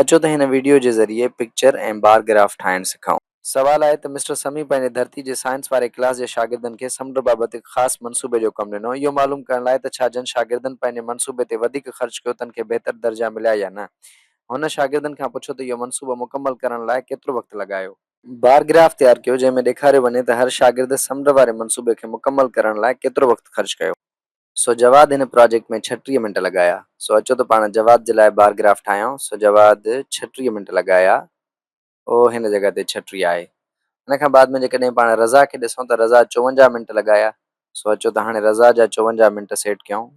اچو ته هن وڊيو جي ذريعي پڪچر ۽ بار گراف ٺاهڻ سکائون. سوال آهي ته مسٽر سمي پنهنجي ڌرتي جي سائنس واري ڪلاس جي شاگردن کي سمنڊ بابت هڪ خاص منصوبي جو ڪم ڏنو اهو معلوم ڪرڻ لاء ته ڇا جن شاگردن پنهنجي منصوبي تي وڌيڪ خرچ ڪيو تن کي بهتر درجا مليا يا نه هن شاگردن کان پڇو ته اهو منصوبو مڪمل ڪرڻ لاء ڪيترو وقت لڳايو. بار گراف تيار ڪيو جنهن ۾ ڏيکاريو وڃي ته هر شاگرد سمنڊ واري منصوبي کي مڪمل ڪرڻ لاء ڪيترو وقت خرچ ڪيو. سو جواد هن پراجيڪٽ ۾ ڇٽيهه منٽ لڳايا سو اچو ته پاڻ جواد جي لاء بار گراف ٺاهيائون سو جواد ڇٽيهه منٽ لڳايا او هن جڳهه تي ڇٽيهه آهي ان کان بعد ۾ جيڪڏهن پاڻ رضا کي ڏسون ته رضا چوونجاهه منٽ لڳايا سو اچو ته هاڻي رضا جا چوونجاهه منٽ سيٽ ڪيائون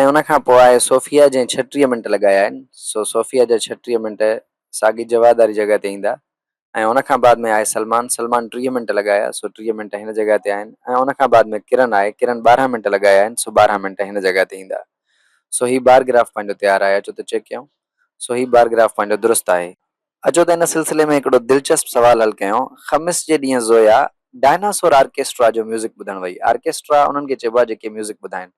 ۽ ان کان پوء آهي صوفيا جنهن ڇٽيهه منٽ لڳايا آهن سو صوفيا جا ڇٽيهه منٽ ساڳي جواد واري جڳهه تي ايندا ۽ ان کان بعد ۾ آهي سلمان، سلمان ٽيهه منٽ لڳايا سو ٽيهه منٽ هن جڳهه تي آهن ۽ ان کان بعد ۾ ڪرن آهي، ڪرن ٻارهن منٽ لڳايا آهن سو ٻارهن منٽ هن جڳهه تي ايندا. سو هي بار گراف پنهنجو تيار آهي اچو ته چيڪ ڪيون. سو هي بار گراف پنهنجو درست آهي. اچو ته ان سلسلي ۾ هڪڙو دلچسپ سوال حل ڪيون. خمس جي ڏينهن زويا ڊائناسور آرڪيسٽرا جو ميوزڪ ٻڌڻ وئي. آرڪيسٽرا انهن کي چئبو آهي جيڪي ميوزڪ ٻڌائين.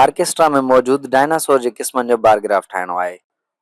آرڪيسٽرا ۾ موجود ڊائناسور جي قسمن جو بار گراف ٺاهڻو آهي.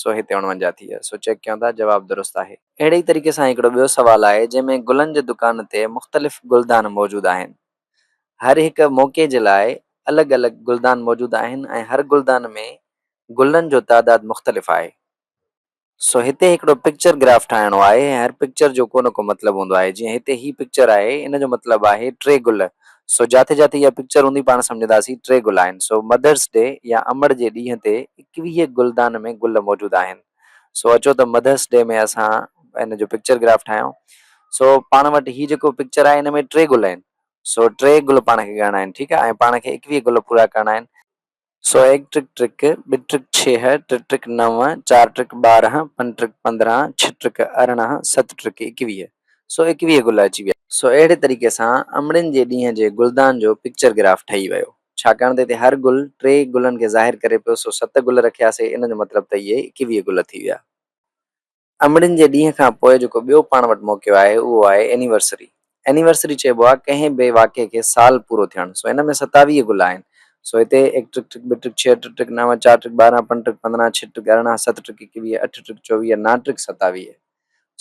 سو هتي اڻونجا ٿي ويا سو چيڪ ڪيون ٿا جواب درست آهي. اهڙي ئي طريقي سان هڪڙو ٻيو سوال آهي جنهن ۾ گلن جي دڪان تي مختلف گلدان موجود آهن هر هڪ موقعي جي لاء الڳ الڳ گلدان موجود آهن ۽ هر گلدان ۾ گلن جو تعداد مختلف آهي سو هتي هڪڙو پڪچر گراف ٺاهڻو آهي هر پڪچر جو ڪو نه ڪو مطلب هوندو آهي جيئن هتي هي پڪچر آهي ان جو مطلب آهي ٽي گل سو جاتي جاتي اها پڪچر هوندي پاڻ سمجهنداسين ٽي گل آهن سو مڌرس ڊي يا امڙ جي ڏينهن تي ايڪويهه گلدان ۾ گل موجود آهن سو اچو ته مڌرس ڊي ۾ اسان ان جو پڪچر گراف ٺاهيون سو پاڻ وٽ هي جيڪو پڪچر آهي ان ۾ ٽي گل آهن سو ٽي گل پاڻ کي ڳڻڻا آهن ٺيڪ آهي ۽ پاڻ کي ايڪويهه گل پورا ڪرڻا آهن سو هيڪ ٽرڪ ٽرڪ، ٻه ٽرڪ ڇيهه، ٽي ٽرڪ نو، چار ٽرڪ ٻارهن، پنج ٽرڪ پندرهن، ڇهه ٽرڪ ارڙهن، ست ٽرڪ ايڪويهه. سو ايڪويهه گل اچي ويا. سو اهڙي طريقي سان امڙين جي ڏينهن جي گلدان جو پڪچر گراف ٺهي ويو. ڇاڪاڻ ته هتي هر گل ٽي گلن کي ظاهر ڪري پيو سو ست گل رکياسي ان جو مطلب ته اهي ايڪويهه گل ٿي ويا. امڙين جي ڏينهن کان پوء جيڪو ٻيو پاڻ وٽ موقعو آهي اهو آهي اينيورسري. اينيورسري چئبو آهي ڪنهن به واقعي کي سال پورو ٿيڻ. سو ان ۾ ستاويهه گل آهن. سو هتي هڪ ٽڪ ٽڪ ٻه ٽڪ ڇهه ٽه ٽڪ نو چار ٽڪ ٻارهن پنج ٽڪ پندرهن ڇهه ٽڪ ارڙهن ست ٽڪ ايڪويهه اٺ ٽڪ چوويهه نا ٽڪ ستاويهه.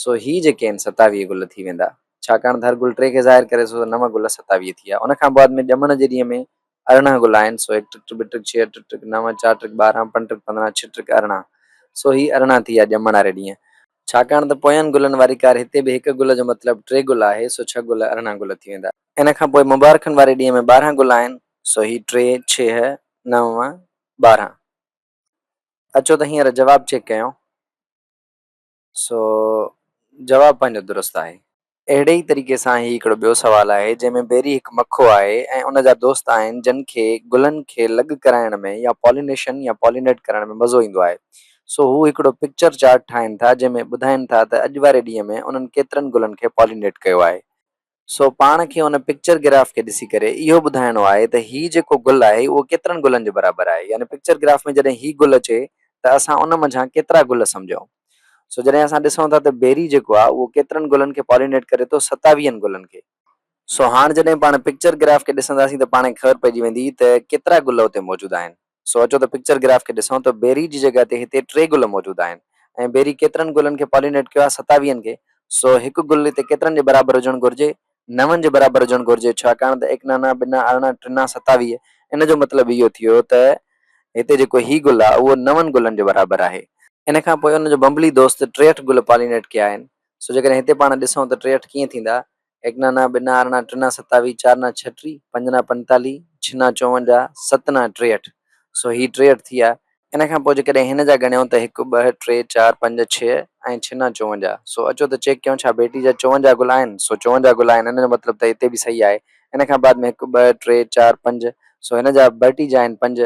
سو هي جيڪي آهن ستاويهه گل ٿي ويندا. ڇاڪاڻ ته هر گل ٽي کي ظاهر ڪري ٿو سو نو گل ستاويهه ٿي ويا. ان کان بعد ۾ ڄمڻ جي ڏينهن ۾ ارڙهن گلائن، سو هڪ ٽڪ ٽڪ ٻه ٽڪ ڇهه ٽڪ ٽڪ نو چار ٽڪ ٻارهن پنج ٽڪ پندرهن ڇهه ٽڪ ارڙهن، سو هي ارڙهن ٿي آ ڄمڻ واري ڏينهن. ڇاڪاڻ ته پوين گلن واري ڪار هتي به هڪ گل جو مطلب ٽي گل آهي، سو ڇهه گل ارڙهن گل ٿي ويندا. ان کان پوء مبارڪن واري ڏينهن ۾ ٻارهن گلائن، سو هي ٽي ڇهه نو ٻارهن. اچو ته هينئر جواب چيڪ ڪيون. سو جواب پنهنجو درست آهي. اهڙي ئي طريقي سان هي هڪڙو ٻيو سوال آهي جنهن ۾ بيري هڪ مکو آهي ۽ ان جا دوست آهن جن کي گلن کي لڳ ڪرائڻ ۾ يا پالينيشن يا پالينيٽ ڪرڻ ۾ مزو ايندو آهي سو هو هڪڙو پڪچر چارٽ ٺاهين ٿا جنهن ۾ ٻڌائين ٿا ته اڄ واري ڏينهن ۾ انهن ڪيترن گلن کي پالينيٽ ڪيو آهي سو پاڻ کي ان پڪچر گراف کي ڏسي ڪري اهو ٻڌائڻو آهي ته هي جيڪو گل آهي اهو ڪيترن گلن جي برابر آهي يعني پڪچر گراف ۾ جڏهن هي گل اچي ته اسان ان منجهان ڪيترا گل سمجهون سو جڏهن اسان ڏسون ٿا ته بيري جيڪو آهي اهو ڪيترن گلن کي پالينيٽ ڪري ٿو ستاويهن گلن کي. سو هاڻ جڏهن پاڻ پڪچر گراف کي ڏسنداسين ته پاڻ کي خبر پئجي ويندي ته ڪيترا گل اتي موجود آهن. سو اچو ته پڪچر گراف کي ڏسون ته بيري جي جڳهه تي هتي ٽي گل موجود آهن ۽ بيري ڪيترن گلن کي پالينيٽ ڪيو آهي ستاويهن کي سو هڪ گل هتي ڪيترن جي برابر هجڻ گهرجي نون جي برابر هجڻ گهرجي ڇاڪاڻ ته ايڪ نانا ٻنا ارڙهن ٽنا ستاويهه ان جو مطلب اهو ٿيو ته هتي جيڪو هي گل آهي اهو نون گلن جي برابر آهي. ان کان پوء ان جو بنبلي دوست ٽيهٺ گل پالينيٽ ڪيا آهن سو جيڪڏهن هتي پاڻ ڏسون ته ٽيهٺ ڪيئن ٿيندا ايڪنا نا ٻنا ارڙهن ٽنا ستاويهه چار نا ڇٽري پنج نا پنتاليهه ڇهه نا چوونجاهه ست نا ٽيهٺ سو هي ٽيهٺ ٿيا. ان کان پوء جيڪڏهن هن جا ڳڻيو ته هڪ ٻه ٽي چار پنج ڇهه ۽ ڇهه نا چوونجاهه سو اچو ته چيڪ ڪيون ڇا ڀيٽي جا چوونجاهه گل آهن سو چوونجاهه گل آهن ان جو مطلب ته هتي به صحيح آهي ان کان بعد ۾ هڪ ٻه ٽي چار پنج سو هن جا ڀرٽي جا آهن پنج